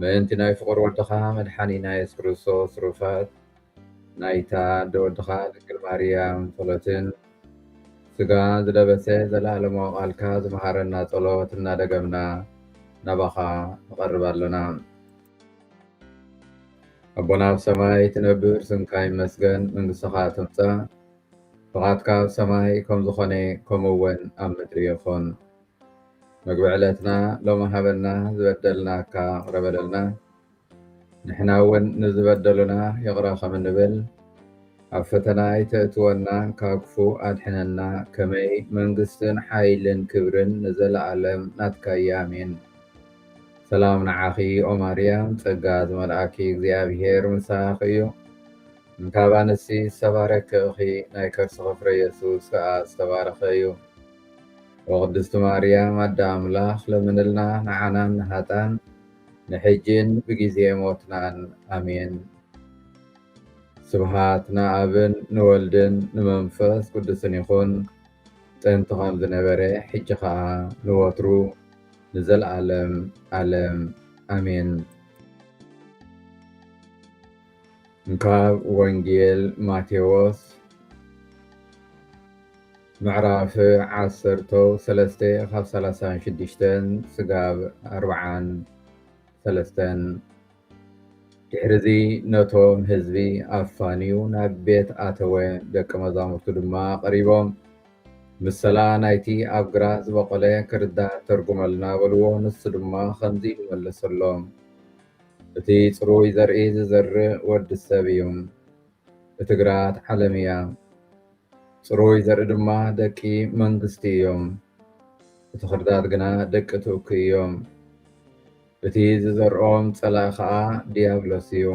ምእንቲ ናይ ፍቑር ወድኻ መድሓኒና የሱስ ክርስቶስ ሩፋት ናይታ ኣደ ወድኻ ድንግል ማርያም ጸሎትን ስጋ ዝለበሰ ዘለኣለማዊ ቃልካ ዝመሃረና ጸሎት እናደገምና ናባኻ ንቐርብ ኣሎና። ኣቦና ኣብ ሰማይ ትነብር ስምካ ይመስገን መንግስትኻ ትምጻእ ፍቓድካ ኣብ ሰማይ ከም ዝኾነ ከምኡውን ኣብ ምድሪ ይኹን። መግቢ ዕለትና ሎሚ ሃበና ዝበደልናካ ይቕረ በለልና ንሕና እውን ንዝበደሉና ይቕረ ከም እንብል ኣብ ፈተና ኣይተእትወና ካብ ክፉ ኣድሕነና ከመይ መንግስትን ሓይልን ክብርን ንዘለኣለም ናትካያ ኣሜን ሰላም ንዓኺ ኦ ማርያም ጸጋ ዝመልኣኪ እግዚኣብሄር ምሳኺ እዩ እንካብ ኣንስቲ ዝተባረኪ ኢኺ ናይ ከርስኺ ፍረ የሱስ ከኣ ዝተባረኸ እዩ ኦ ቅድስቲ ማርያም ኣደ ኣምላኽ ለምንልና ንዓናን ንሃጣን ንሕጂን ብጊዜ ሞትናን ኣሜን። ስብሃት ንኣብን ንወልድን ንመንፈስ ቅዱስን ይኹን ጥንቲ ከም ዝነበረ ሕጂ ከኣ ንወትሩ ንዘልኣለም ኣለም ኣሜን። ካብ ወንጌል ማቴዎስ ምዕራፍ ዓሰርተ ሰለስተ ካብ ሰላሳን ሽዱሽተን ስጋብ ኣርብዓን ሰለስተን ድሕርዚ ነቶም ህዝቢ ኣፋንዩ ናብ ቤት ኣተወ ደቂ መዛሙርቱ ድማ ቀሪቦም ምሰላ ናይቲ ኣብ ግራ ዝበቆለ ክርዳ ተርጉመልና በልዎ ንሱ ድማ ከምዚ ኢሉ መለሰሎም እቲ ጽሩይ ዘርኢ ዝዘርእ ወዲ ሰብ እዩ። እቲ ግራት ዓለም እያ። ጽሩይ ዘርኢ ድማ ደቂ መንግስቲ እዮም። እቲ ኽርዳድ ግና ደቂ ትእኩ እዮም። እቲ ዝዘርኦም ጸላኢ ኸዓ ድያብሎስ እዩ።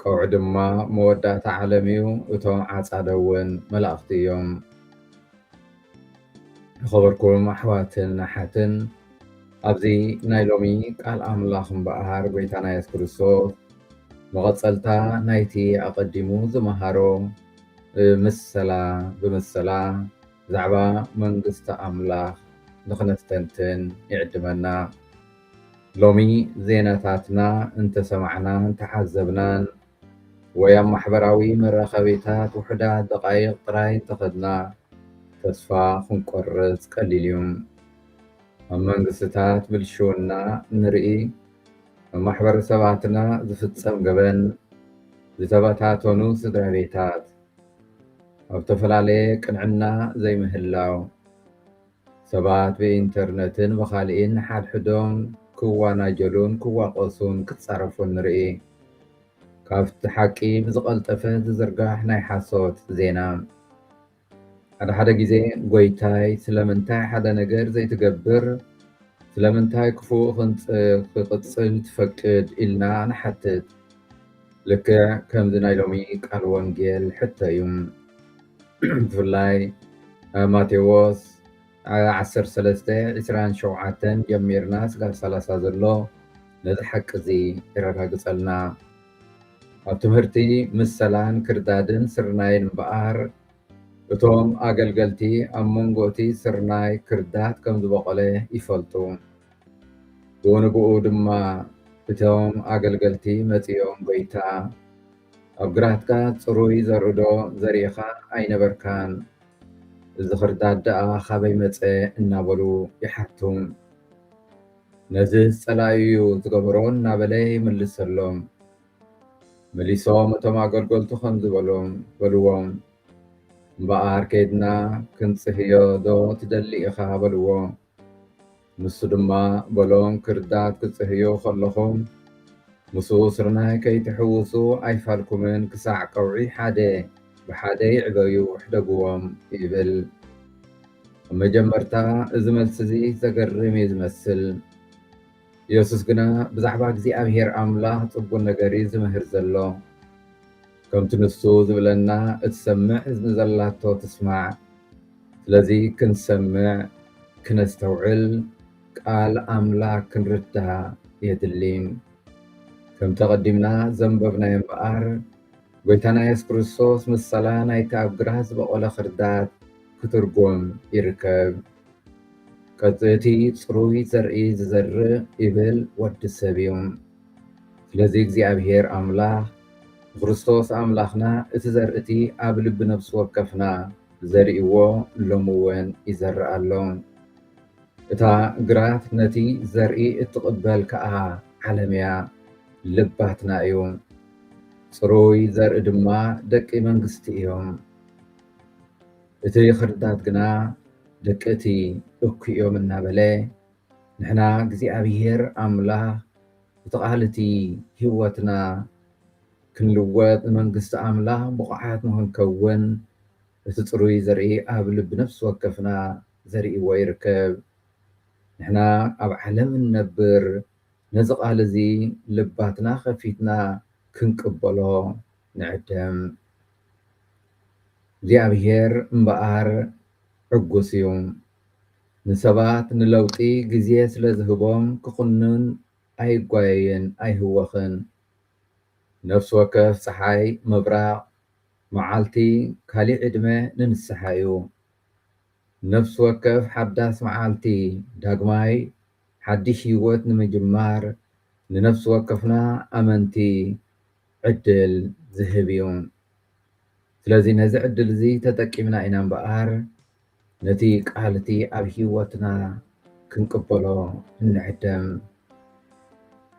ቀውዒ ድማ መወዳእታ ዓለም እዩ፣ እቶም ዓጻደውን መላእኽቲ እዮም። ዝኸበርኩም ኣሕዋትን ኣሓትን ኣብዚ ናይ ሎሚ ቃል ኣምላኽ እምበኣር ጎይታና የሱስ ክርስቶስ መቐጸልታ ናይቲ ኣቐዲሙ ዝመሃሮ ብምሰላ ብምሰላ ብዛዕባ መንግስቲ ኣምላኽ ንኽነስተንትን ይዕድመና። ሎሚ ዜናታትና እንተሰማዕናን እንተዓዘብናን ወይ ኣብ ማሕበራዊ መራኸቢታት ውሑዳት ደቓይቕ ጥራይ እንተኸድና ተስፋ ክንቆርጽ ቀሊል እዩ። ኣብ መንግስትታት ብልሽውና እንርኢ፣ ኣብ ማሕበረሰባትና ዝፍጸም ገበን፣ ዝተበታተኑ ስድራቤታት፣ ኣብ ዝተፈላለየ ቅንዕና ዘይምህላው፣ ሰባት ብኢንተርነትን ብኻልኢን ንሓድሕዶም ክዋናጀሉን ክዋቐሱን ክጻረፉን ንርኢ። ካብቲ ሓቂ ብዝቐልጠፈ ዝዝርጋሕ ናይ ሓሶት ዜና። ሓደ ሓደ ግዜ ጎይታይ ስለምንታይ ሓደ ነገር ዘይትገብር፣ ስለምንታይ ክፉእ ክንጽ ክቕጽል ትፈቅድ ኢልና ንሓትት። ልክዕ ከምዚ ናይ ሎሚ ቃል ወንጌል ሕቶ እዩ። ብፍላይ ማቴዎስ ዓሰርተ ሰለስተ ዕስራን ሸውዓተን ጀሚርና ስጋብ ሰላሳ ዘሎ ነዚ ሓቂ እዚ የረጋግፀልና። ኣብ ትምህርቲ ምሰላን ክርዳድን ስርናይን እምበኣር እቶም ኣገልገልቲ ኣብ መንጎ እቲ ስርናይ ክርዳድ ከም ዝበቖለ ይፈልጡ። ብኡንብኡ ድማ እቶም ኣገልገልቲ መፂኦም ጐይታ ኣብ ግራትካ ጽሩይ ዘርእዶ ዘሪእኻ ኣይነበርካን? እዚ ኽርዳድ ደኣ ኻበይ መጸ? እናበሉ ይሓቱ። ነዝስ ጸላኢ እዩ ዝገበሮ እናበለ ይምልሰሎም። መሊሶም እቶም ኣገልገልቱ ከምዚ በሎም በልዎም፣ እምበኣር ከይድና ክንጽህዮዶ ትደሊ ኢኻ? በልዎ። ንሱ ድማ በሎም ክርዳድ ክጽህዮ ከለኹም ምስ ስርናይ ከይትሕውሱ ኣይፋልኩምን ክሳዕ ቀውዒ ሓደ ብሓደ ይዕበዩ ሕደግዎም ይብል። ኣብ መጀመርታ እዚ መልሲ እዚ ዘገርም እዩ ዝመስል። የሱስ ግና ብዛዕባ እግዚኣብሄር ኣምላኽ ጽቡን ነገር እዩ ዝምህር ዘሎ። ከምቲ ንሱ ዝብለና እትሰምዕ እዝኒ ዘላቶ ትስማዕ። ስለዚ ክንሰምዕ፣ ክነስተውዕል፣ ቃል ኣምላኽ ክንርዳእ የድሊ። ከምቲ ኣቐዲምና ዘንበብናዮ እምበኣር፣ ጎይታና የሱስ ክርስቶስ ምሳላ ናይቲ ኣብ ግራት ዝበቖለ ኽርዳድ ክትርጉም ይርከብ። ቅፅእቲ ፅሩይ ዘርኢ ዝዘርእ ይብል ወዲ ሰብ እዩ። ስለዚ እግዚኣብሔር ኣምላኽ ብክርስቶስ ኣምላኽና እቲ ዘርእቲ ኣብ ልቢ ነፍሲ ወከፍና ዘሪእዎ ሎሚ እውን ይዘርእ ኣሎ። እታ ግራት ነቲ ዘርኢ እትቕበል ከዓ ዓለም እያ፣ ልባትና እዩ። ፅሩይ ዘርኢ ድማ ደቂ መንግስቲ እዮም። እቲ ኽርዳድ ግና ደቂ እቲ እኩይ እዮም እናበለ ንሕና እግዚኣብሄር ኣምላኽ እቲ ቃል እቲ ህይወትና ክንልወጥ ንመንግስቲ ኣምላኽ ብቑዓት ንኽንከውን እቲ ፅሩይ ዘርኢ ኣብ ልቢ ነፍሲ ወከፍና ዘሪእዎ ይርከብ። ንሕና ኣብ ዓለም እንነብር ነዚ ቃል እዚ ልባትና ከፊትና ክንቅበሎ ንዕደም። እግዚኣብሔር እምበኣር ዕጉስ እዩ። ንሰባት ንለውጢ ግዜ ስለ ዝህቦም ክኹንን ኣይጓየይን ኣይህወኽን። ነፍሲ ወከፍ ጸሓይ ምብራቕ መዓልቲ ካሊእ ዕድመ ንንስሓ እዩ። ነፍሲ ወከፍ ሓዳስ መዓልቲ ዳግማይ ሓዲሽ ህይወት ንምጅማር ንነፍሲ ወከፍና ኣመንቲ ዕድል ዝህብ እዩ። ስለዚ ነዚ ዕድል እዚ ተጠቂምና ኢና እምበኣር ነቲ ቃል እቲ ኣብ ህይወትና ክንቅበሎ እንዕደም።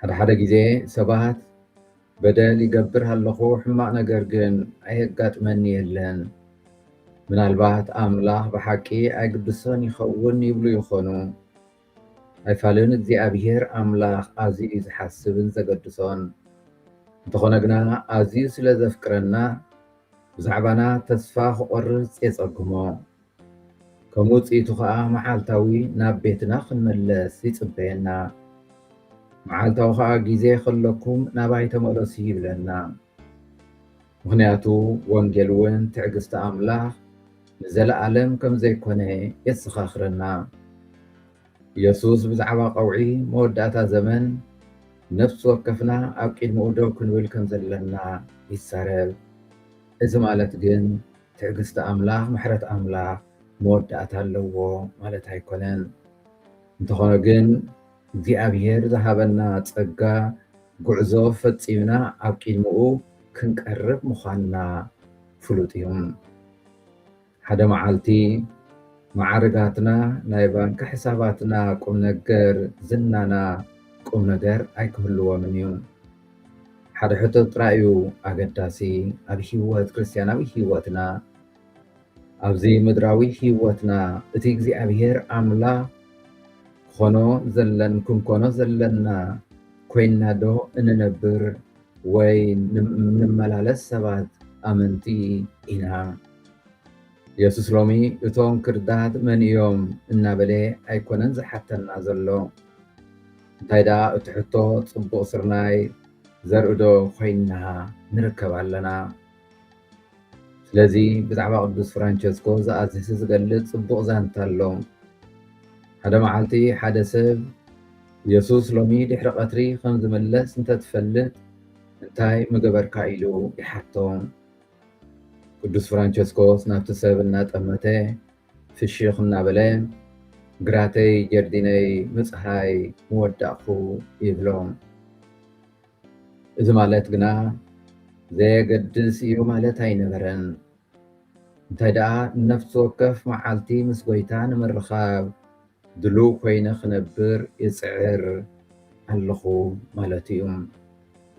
ሓደ ሓደ ግዜ ሰባት በደል ይገብር ኣለኹ ሕማቕ ነገር ግን ኣየጋጥመኒ የለን ምናልባት ኣምላኽ ብሓቂ ኣይግድሶን ይኸውን ይብሉ ይኾኑ። ኣይፋልን እግዚኣብሄር ኣምላኽ ኣዝዩ እዩ ዝሓስብን ዘገድሶን። እንተኾነ ግና ኣዝዩ ስለ ዘፍቅረና ብዛዕባና ተስፋ ክቖርጽ የጸግሞ። ከም ውጽኢቱ ኸኣ መዓልታዊ ናብ ቤትና ክንመለስ ይጽበየና። መዓልታዊ ኸኣ ግዜ ከለኩም ናባይ ተመለሱ ይብለና። ምኽንያቱ ወንጌል እውን ትዕግስቲ ኣምላኽ ንዘለኣለም ከም ዘይኮነ የዘኻኽረና። ኢየሱስ ብዛዕባ ቀውዒ መወዳእታ ዘመን ነፍሲ ወከፍና ኣብ ቂድሚኡ ደው ክንብል ከም ዘለና ይዛረብ። እዚ ማለት ግን ትዕግስቲ ኣምላኽ፣ ምሕረት ኣምላኽ መወዳእታ ኣለዎ ማለት ኣይኮነን። እንተኾነ ግን እግዚኣብሔር ዝሃበና ጸጋ ጉዕዞ ፈጺምና ኣብ ቂድምኡ ክንቀርብ ምዃንና ፍሉጥ እዩ። ሓደ መዓልቲ መዓርጋትና፣ ናይ ባንኪ ሕሳባትና፣ ቁምነገር ዝናና ቁምነገር ኣይክህልዎምን እዩ። ሓደ ሕቶ ጥራይ እዩ ኣገዳሲ ኣብ ሕይወት ክርስትያናዊ ሕይወትና። ኣብዚ ምድራዊ ህይወትና እቲ እግዚኣብሔር ኣምላኽ ክኾኖ ዘለን ክንኮኖ ዘለና ኮይና ዶ እንነብር ወይ ንመላለስ ሰባት ኣመንቲ ኢና? ኢየሱስ ሎሚ እቶም ክርዳት መን እዮም እናበለ ኣይኮነን ዝሓተና ዘሎ እንታይ ደኣ እቲ ሕቶ ጽቡቕ ስርናይ ዘርኢ ዶ ኮይና ንርከብ ኣለና? ስለዚ ብዛዕባ ቅዱስ ፍራንቸስኮ ዝኣዝሲ ዝገልጽ ጽቡቕ ዛንታ ኣሎ። ሓደ መዓልቲ ሓደ ሰብ የሱስ ሎሚ ድሕሪ ቐትሪ ኸም ዝምለስ እንተ ትፈልጥ እንታይ ምገበርካ ኢሉ ይሓቶ። ቅዱስ ፍራንቸስኮስ ናብቲ ሰብ እናጠመተ ፍሽኽ እናበለ ግራተይ ጀርዲነይ ምጽሃይ ምወዳእኩ ይብሎ። እዚ ማለት ግና ዘየገድስ እዩ ማለት ኣይነበረን። እንታይ ደኣ ነፍሲ ወከፍ መዓልቲ ምስ ጎይታ ንምርኻብ ድሉው ኮይነ ክነብር ይጽዕር ኣለኹ ማለት እዩ።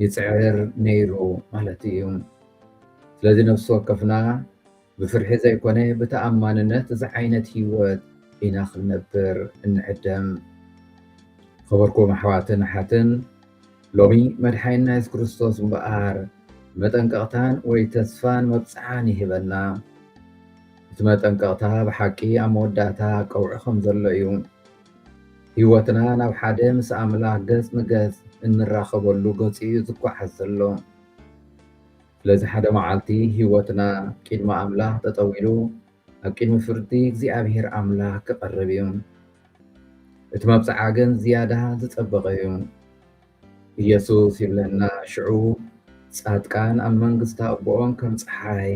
ይጽዕር ነይሩ ማለት እዩ። ስለዚ ነፍሲ ወከፍና ብፍርሒ ዘይኮነ ብተኣማንነት እዚ ዓይነት ሂወት ኢና ክንነብር እንዕደም። ዝኸበርኩም ኣሕዋትን ኣሓትን ሎሚ መድሓኒና የሱስ ክርስቶስ እምበኣር መጠንቀቕታን ወይ ተስፋን መብጽዓን ይህበና። እቲ መጠንቀቕታ ብሓቂ ኣብ መወዳእታ ቀውዒ ከም ዘሎ እዩ። ሂወትና ናብ ሓደ ምስ ኣምላኽ ገጽ ንገጽ እንራኸበሉ ገጹ እዩ ዝጓዓዝ ዘሎ። ስለዚ ሓደ መዓልቲ ህይወትና ቂድሚ ኣምላኽ ጠጠው ኢሉ ኣብ ቂድሚ ፍርዲ እግዚኣብሔር ኣምላኽ ክቐርብ እዩ። እቲ መብጽዓ ግን ዝያዳ ዝጸበቐ እዩ። ኢየሱስ ይብለና ሽዑ ጻድቃን ኣብ መንግስቲ ኣቦኦም ከም ጸሓይ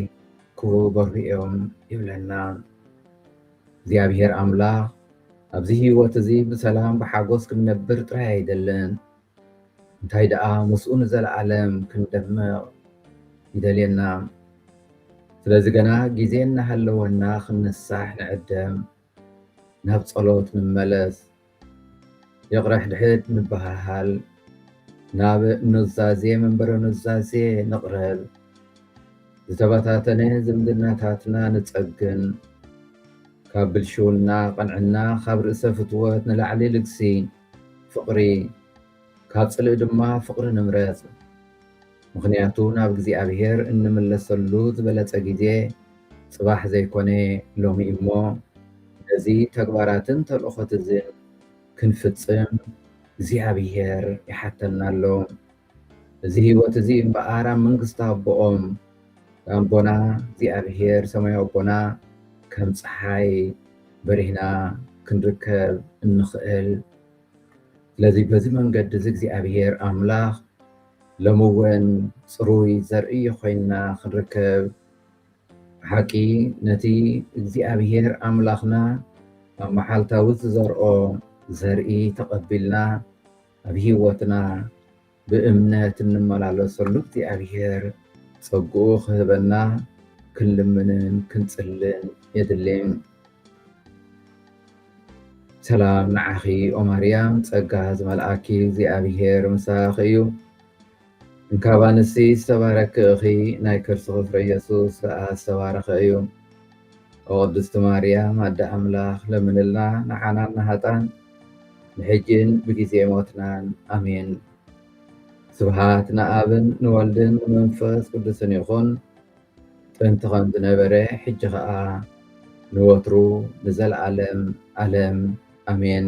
ክበርሁ እዮም ይብለና። እግዚኣብሔር ኣምላኽ ኣብዚ ህይወት እዚ ብሰላም ብሓጎስ ክንነብር ጥራይ ኣይደልን እንታይ ደኣ ምስኡ ንዘለኣለም ክንደምቕ ይደልየና። ስለዚ ገና ግዜ እናሃለወና ክንንሳሕ ንዕደም፣ ናብ ጸሎት ንመለስ፣ ይቕረ ሕድሕድ ንበሃሃል፣ ናብ ኑዛዜ መንበረ ኑዛዜ ንቕረብ፣ ዝተበታተነ ዝምድናታትና ንጸግን፣ ካብ ብልሽውና፣ ቅንዕና፣ ካብ ርእሰ ፍትወት ንላዕሊ ልግሲ፣ ፍቕሪ ካብ ጽልኢ ድማ ፍቕሪ ንምረጽ ምኽንያቱ ናብ እግዚኣብሔር እንምለሰሉ ዝበለጸ ጊዜ ጽባሕ ዘይኮነ ሎሚ እዩ እሞ ነዚ ተግባራትን ተልእኾትዝን ክንፍጽም እግዚኣብሔር ይሓተና ኣሎ። እዚ ህይወት እዚ እምበኣር ኣብ መንግስቲ ኣቦኦም ኣቦና እግዚኣብሄር ሰማያዊ ኣቦና ከም ፀሓይ በሪህና ክንርከብ እንኽእል ስለዚ በዚ መንገዲ እዚ እግዚኣብሄር ኣምላኽ ሎሚ እውን ፅሩይ ዘርኢ ኮይንና ክንርከብ ብሓቂ ነቲ እግዚኣብሄር ኣምላኽና ኣብ መዓልታዊ ዝዘርኦ ዘርኢ ተቐቢልና ኣብ ሂወትና ብእምነት እንመላለሰሉ እግዚኣብሔር ፀግኡ ክህበና ክንልምንን ክንፅልን የድሊ። ሰላም ንዓኺ ኦማርያም ፀጋ ዝመልኣኪ እግዚኣብሔር ምሳኺ እዩ። እንካብ ኣንስቲ ዝተባረኪ እኺ ናይ ከርስኺ ፍረ የሱስ ከኣ ዝተባረኸ እዩ ኦ ቅድስቲ ማርያም ኣደ ኣምላኽ ለምንልና ንዓናን ንሃጣን ንሕጂን ብጊዜ ሞትናን ኣሜን ስብሃት ንኣብን ንወልድን ንመንፈስ ቅዱስን ይኹን ጥንቲ ከም ዝነበረ ሕጂ ኸኣ ንወትሩ ንዘለዓለም ዓለም ኣሜን